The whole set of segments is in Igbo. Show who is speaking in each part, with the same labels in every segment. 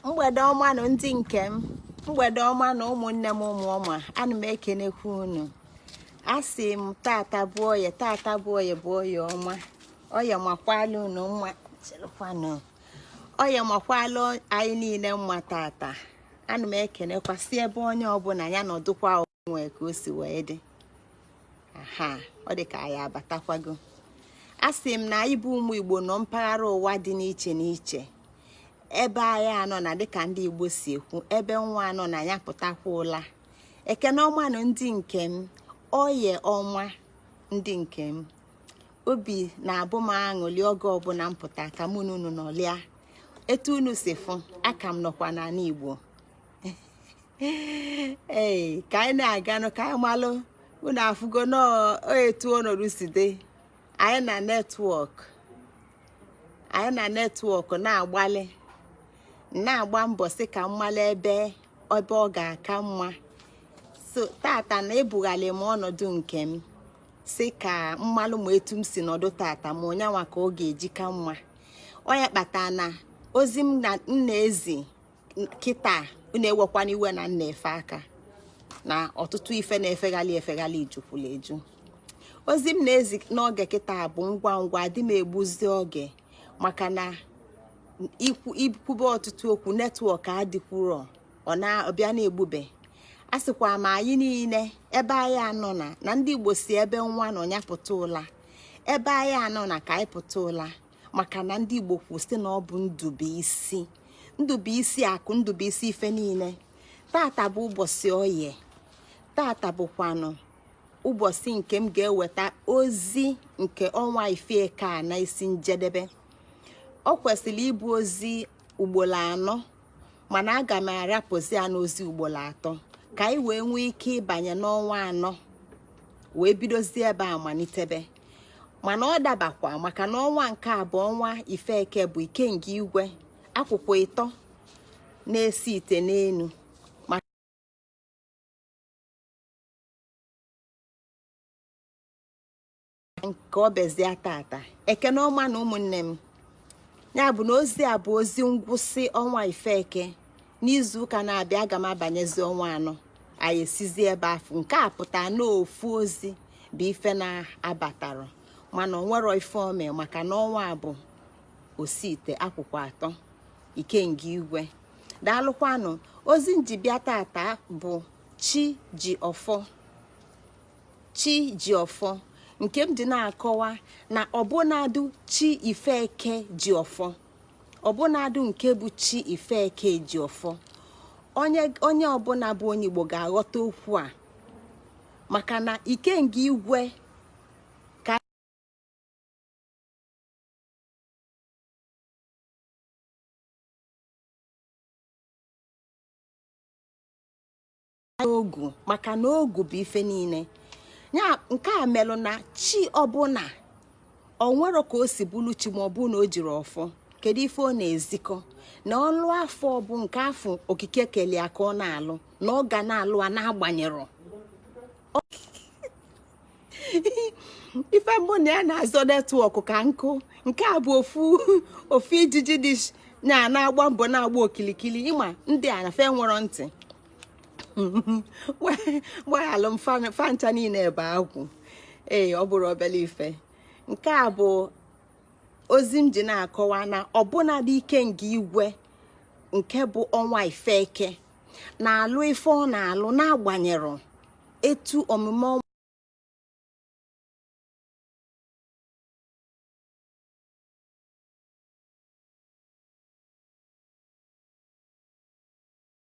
Speaker 1: mgbede ọma nụ ndị nke m mgbede ọma nụ ụmụnne m ụmụ ọma ana m ekenekwa unu asị m tata bụ oye tata bụ oye bụ oye ọma oye makwala unu mma chelụkwanụ oye makwala anyị niile mma tata ana m ekenekwa sị ebe onye ọbụna ya nọdụkwa nwee ka o si wee dị aha ọ dị ka anyị abatakwago asị m na anyị bụ ụmụ igbo nọ mpaghara ụwa dị n'iche n'iche ebe anyị anọna dịka ndị igbo si ekwu ebe nwa anọna ya pụtakwa ụla ekene ọma nụ ndị nke m oye ọma ndị nke m obi na-abụ m aṅụli oge ọbụna m pụta ka mụ na unu nọlịa etu unu si fụ aka m nọkwa n'anị igbo ee ka anyị na-aganụ ka anyị malụ unu afụgo etu ọnọdụ si dị anyị na netwọk anyị na netwọk na-agbalị na-agba mbọ sị ka m malụ ebe ebe ọ ga-aka mma so tata na ebughalị m ọnọdụ nke m sị ka m malụ ma etu m si nọdụ tata ma ọ ya nwa ka ọ ga-eji ka mma ọ ya kpata na ozi m na-ezi kịta unu ewekwana iwe na m na-efe aka na ọtụtụ ife na-efeghalị efeghalị jukwulu eju ozi m na-ezi n'oge kịta bụ ngwa ngwa adị m egbuzi oge maka na i kwube ọtụtụ okwu netwọk adịkwuro ọ bịa na-egbube asịkwa m anyị niine ebe anyị anọna na ndị Igbo sị ebe nwa nọ ya pụta ụla ebe anyị anọna ka anyị pụta ụla maka na ndị Igbo kwuru sị na ọ bụ ndụ bụ isi ndụ bụ isi akụ ndụ bụ isi ife niine tata bụ ụbọchị oye tata bụkwanụ ụbọchị nke m ga-eweta ozi nke ọnwa ife eke a na isi njedebe o kwesịlị ịbụ ozi ugbolo anọ mana aga m arapụzi ya n'ozi ugbolo atọ ka anyị wee nwee ike ịbanye n'ọnwa anọ wee bidozie ebe a malitebe mana ọ dabakwa maka na ọnwa nke a bụ ọnwa ife eke bụ ikenga igwe akwụkwa ịtọ na-esi ite n'enu nke o bezie tata ekene ọma nụ ụmụnne m ya bụ na ozi a bụ ozi ngwụsị ọnwa ife eke n'izu ụka na-abịa aga m abanyezi ọnwa anọ anyị esizi ebe afụ nke a pụta n'ofu ozi bụ ife na-abatara mana o nwero ife o me maka na ọnwa bụ osite akụkụ atọ ikenga igwe daalụkwanụ ozi m ji bịa tata bụ chi ji ọfọ chi ji ọfọ nke m dị na-akọwa na ọbụnadụ chi ifeke ji ọfọ ọbụnadụ nke bụ chi ifeke ji ọfọ onye ọbụla bụ onye igbo ga-aghọta okwu a maka na ikenga igwe n'ogu maka na ogu bụ ife niile ya nke a melụ na chi ọbụla o nwero ka o si bụrụ chi ma ọ bụ na o jiri ọfọ kedu ife ọ na-ezikọ na ọlụ afụ bụ nke afụ okike keli ya ka ọ na-alụ na ọ ga na-alụ ya na-agbanyerọ ife mụ na ya na-azọ netwọk ka nkụ nke a bụ ofu ijiji dị na-agba mbọ na-agba okilikili ị ma ndị a na-efe nwero ntị gbaghalụ m fa ncha niile ebe agwụ ee ọ bụrụ obele ife nke a bụ ozi m ji na-akọwa na ọbụnadị ikenga igwe nke bụ ọnwa ifeke na-alụ ife ọ na-alụ n'agbanyeghị etu omume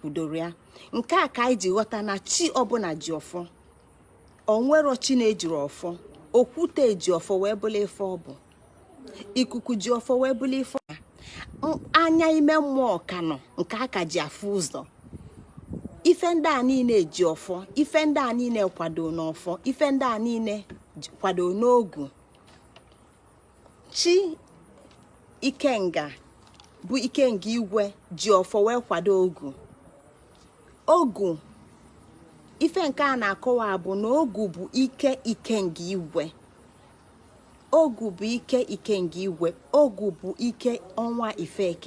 Speaker 1: kwudoro ya nke a ka anyị ji ghọta na chi ọbụla ji ọfọ o nwero chi na-ejiri ọfọ okwute ji ọfọ wee bụla ife ọ bụ ikuku ji ọfọ wee bụla ife ọ anya ime mmụọ ka nọ nke aka ji afụ ụzọ ife ndị a niile ji ọfọ ife ndị a niile kwado n'ọfọ ife ndị a niile kwado n'ogu chi ikenga bụ ikenga igwe ji ọfọ wee kwado ogu ogu ife nke a na-akọwa bụ na ogu bụ ike ikenga igwe ogu bụ ike ikenga igwe ogu bụ ike ọnwa ifeke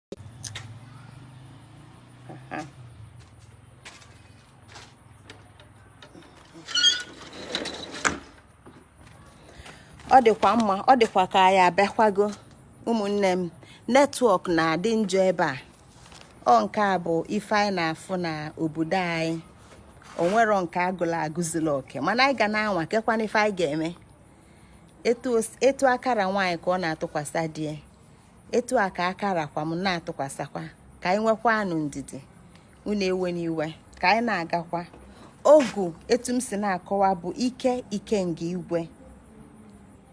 Speaker 1: ọ dịkwa mma ọ dịkwa ka ya abịakwago ụmụnne m netwọk na-adị njọ ebe a ọ nke a bụ ife anyị na-afụ na obodo anyị o nwero nke agụla agụzila oke mana anyị ga na-anwa kekwanụ ife anyị ga-eme etu aka ra nwaanyị ka ọ na-atụkwasị di etu a ka aka rakwa m na-atụkwasịkwa ka anyị nwekwanụ ndidi unu ewena iwe ka anyị na-agakwa ogu etu m si na-akọwa bụ ike ikenga igwe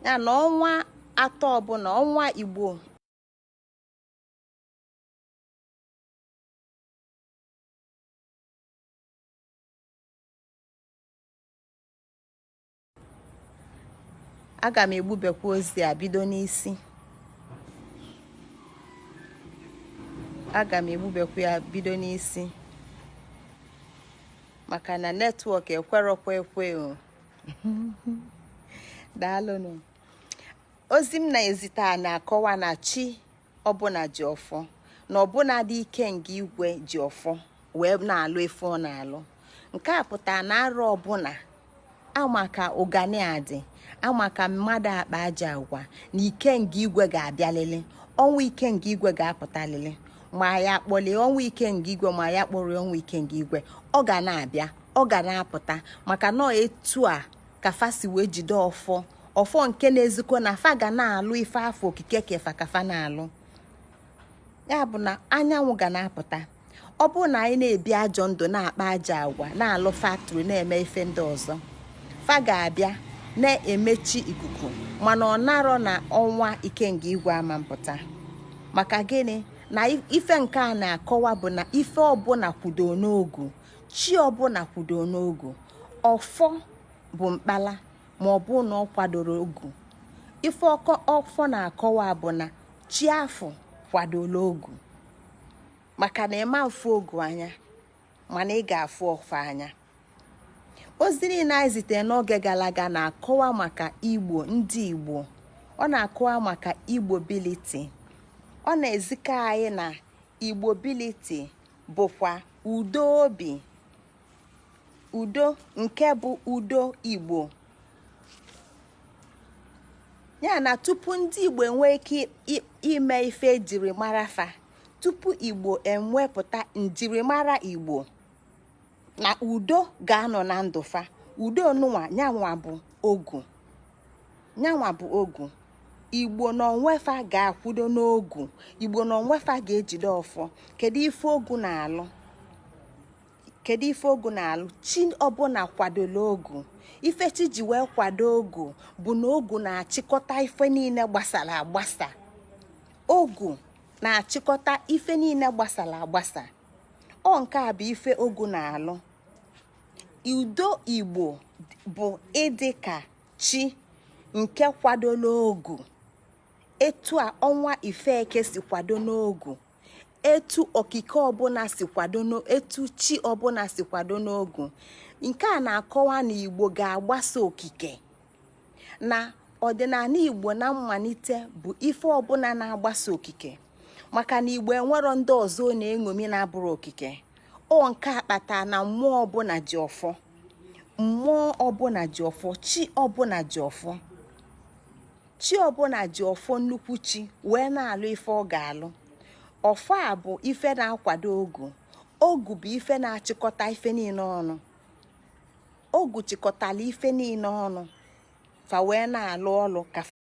Speaker 1: ya na ọnwa atọ ọbụla ọnwa igbo aga m egbubekwa ozi a bido n'isi aga m egbubekwa ya bido n'isi maka na netwọk ekwerọkwa ekwe o daalụnụ ozi m na-ezite a na-akọwa na chi ọbụla ji ọfọ na ọbụnadị ikenga igwe ji ọfọ wee na-alụ ife ọ na-alụ nke a pụtara na arọ ọbụla amaka ụganị adị amaka mmadụ akpa ajọ agwa na ikenga igwe ga-abịalịlị ọnwa ikenga igwe ga-apụtalịlị ma anyị kpọlie ọnwa ikenga igwe ma anyị akpọrọ ọnwa ikenga igwe ọ ga na-abịa ọ ga na-apụta maka na etu a ka fa si wee jide ọfọ ọfọ nke na-ezikọ na fa ga na-alụ ife afụ okike ke fa ka fa na-alụ ya bụ na anyanwụ ga na-apụta ọ bụrụ na anyị na-ebi ajọ ndụ na-akpa ajọ agwa na-alụ faktrị na-eme ife ndị ọzọ fa ga-abịa na-emechi ikuku mana ọ narọ na ọnwa ikenga igwe ama apụta maka gịnị na ife nke a na-akọwa bụ na ife ọbụla kwudo n'ogu chi ọbụla kwudo n'ogu ọfọ bụ mkpala ma ọ bụ na ọ kwadoro ogu ife ọkọ ọfọ na-akọwa bụ na chi afụ kwadola ogu maka na ị ma afụ ogu anya mana ị ga-afụ ọfọ anya ozi niile anyị zitere n'oge gara aga na-akọwa maka igbo ndị igbo ọ na-akọwa maka igbo biliti ọ na-ezikọ anyị na igbo biliti bụkwa udo obi udo nke bụ udo igbo ya na tupu ndị igbo enwee ike ime ife e jiri mara fa tupu igbo enwepụta njirimara igbo na udo ga-anọ na ndụ fa udo nụnwa nyanwa bụ ogu nyanwa bụ ogu igbo na onwe fa ga-akwudo n'ogu igbo na onwe fa ga-ejide ọfọ kedu ife ogu na-alụ kedu ife ogu na-alụ chi ọbụla kwadola ogu ife chi ji wee kwado ogu bụ na ogu na-achịkọta ife niile gbasara agbasa ogu na-achịkọta ife niile gbasara agbasa ọ nke a bụ ife ogu na-alụ udo igbo bụ ịdị ka chi nke kwadola ogu etu a ọnwa ife eke si kwado n'ogu etu okike ọbụla si kwado etu chi ọbụla si kwado n'ogu nke a na-akọwa na igbo ga-agbaso okike na ọdịnala igbo na mmalite bụ ife ọbụla na-agbaso okike maka na igbo enwero ndị ọzọ na-eṅomi na-abụrọ okike ọ nke a kpata na mmụọ ọbụla ji ọfọ mmụọ ọbụla ji ọfọ chi ọbụla ji ọfọ chi ọbụla ji ọfọ nnukwu chi wee na-alụ ife ọ ga-alụ ọfọ a bụ ife na-akwado ogu ogu bụ ife na-achịkọta ife niile ọnụ ogu chịkọtala ife niile ọnụ fa wee na-alụ ọlụ ka